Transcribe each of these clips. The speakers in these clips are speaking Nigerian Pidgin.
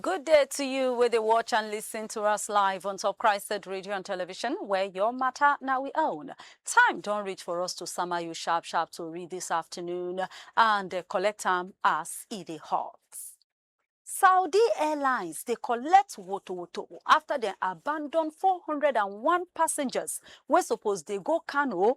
Good day to you with the watch and listen to us live on Top Christed Radio and Television, where your matter now we own. Time don't reach for us to summer you sharp sharp to read this afternoon and uh, collect them as it is hot. Saudi Airlines they collect woto woto after they abandon 401 passengers wey suppose they go Kano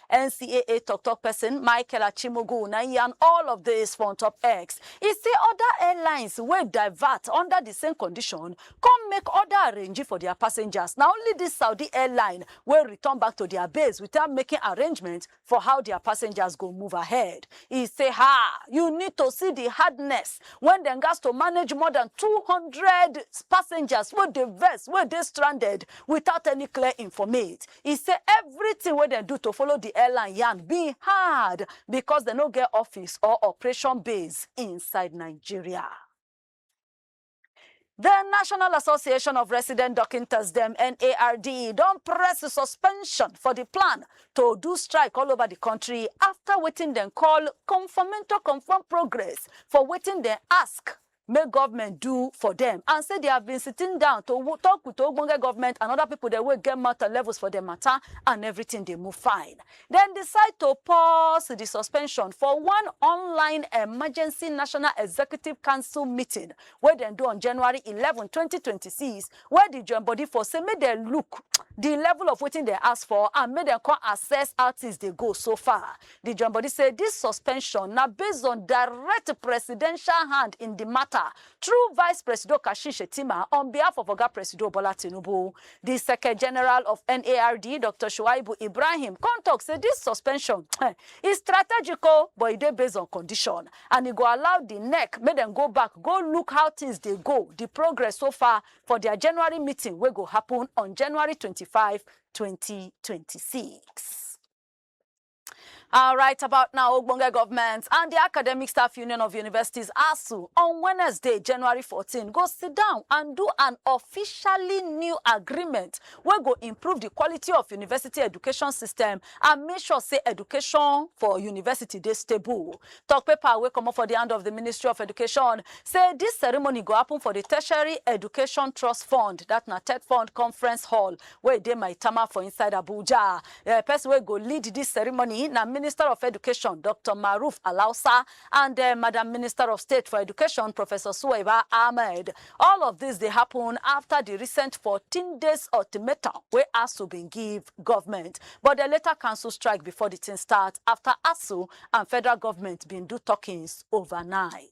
NCAA tok-tok pesin Michael Achimogwu na im yarn all of dis for ontop X. E say oda airlines wey divert under di same condition come make oda arrangee for dia passengers, na only dis Saudi airline wey return back to dia base without making arrangement for how dia passengers go move ahead. E say haa, you need to see di hardness wen dem gatz to manage more dan two hundred passengers wey dey vex, wey dey stranded without any clear informate. E say evritin wey dem do to follow di airline yarn bin hard becos dem no get office or operation base inside Nigeria. Di National Association of Resident Dokintas dem, NARD, don press suspension for di plan to do strike all over di kontri afta wetin dem call Conformento Confirm Progress for wetin dem ask make government do for dem and say they have been sitting down to wo- talk with ogbonge government and other people dem wey get mouth and levels for the matter and everything dey move fine. Dem decide to pause the suspension for one online emergency national executive council meeting wey dem do on January eleven, twenty twenty six, where the join body for say make dem look the level of wetin dem ask for and make dem come assess how things dey go so far. Di join body say dis suspension na based on direct presidential hand in di matter through Vice Presido Kashim Shettima on behalf of Oga Presido Bola Tinubu. Di Seke General of NARD, Doctor Shuaibu Ibrahim come talk say dis suspension um e strategic o but e dey based on condition and e go allow di nec make dem go back go look how things dey go, di progress so far for dia January meeting wey go happen on January twenty five, twenty twenty six. All right, about now, Ogbonge government and the Academic Staff Union of Universities, ASU, on Wednesday, January 14, go sit down and do an officially new agreement wey go improve the quality of university education system and make sure say education for university dey stable. Talk paper wey comot for the hand of the Ministry of Education say this ceremony go happen for the Tertiary Education Trust Fund, that na TED Fund Conference Hall, wey dey Maitama for inside Abuja. The person wey go lead this ceremony na Minister of Education, Doctor Maruf Alhausa and Madam Minister of State for Education, Professor Suwaiba Ahmed. All of this dey happen after the recent fourteen days ultimatum wey ASUU bin give government, but dem later cancel strike before the thing start after ASUU and federal government bin do talkings overnight.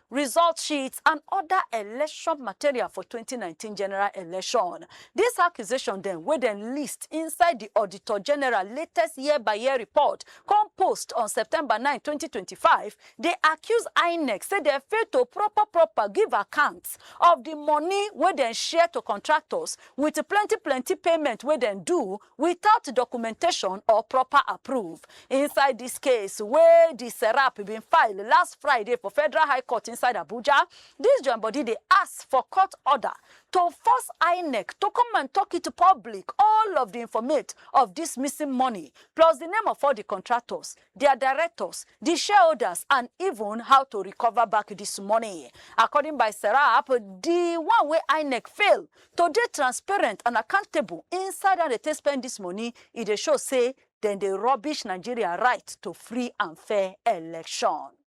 result sheets and oda election material for twenty nineteen general election. Dis accusation dem wey dem list inside di Auditor General latest year-by-year report come post on September nine, twenty twenty five dey accuse INEC say dem fail to proper proper give account of di money wey dem share to contractors wit plenty plenty payment wey dem do without documentation or proper approve inside dis case wey di serap bin file last friday for federal high court inside abuja dis join body dey ask for court order to force inec to come and tok it public all of di informate of dis missing money plus di name of all di contractors dia directors, di shareholders and even how to recover back dis money. According by Serap, di one wey Inec fail to dey transparent and accountable inside how dem take spend dis money, e dey show say dem dey rubbish Nigeria right to free and fair election.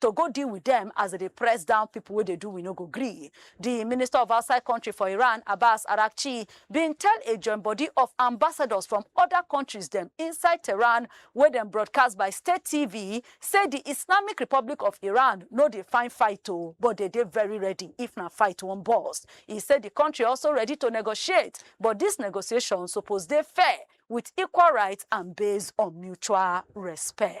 to go deal with dem as dem dey press down pipo wey dey do we no go gree. Di Minister of Outside Kontri for Iran, Abbas Araghchi, bin tell a joinbodi of ambassadors from oda kontris dem inside Tehran wey dem broadcast by state TV say di Islamic Republic of Iran no dey find fight o, but dem dey very ready if na fight wan burst. E say di kontri also ready to negotiate, but dis negotiation suppose dey fair, wit equal rights and based on mutual respect.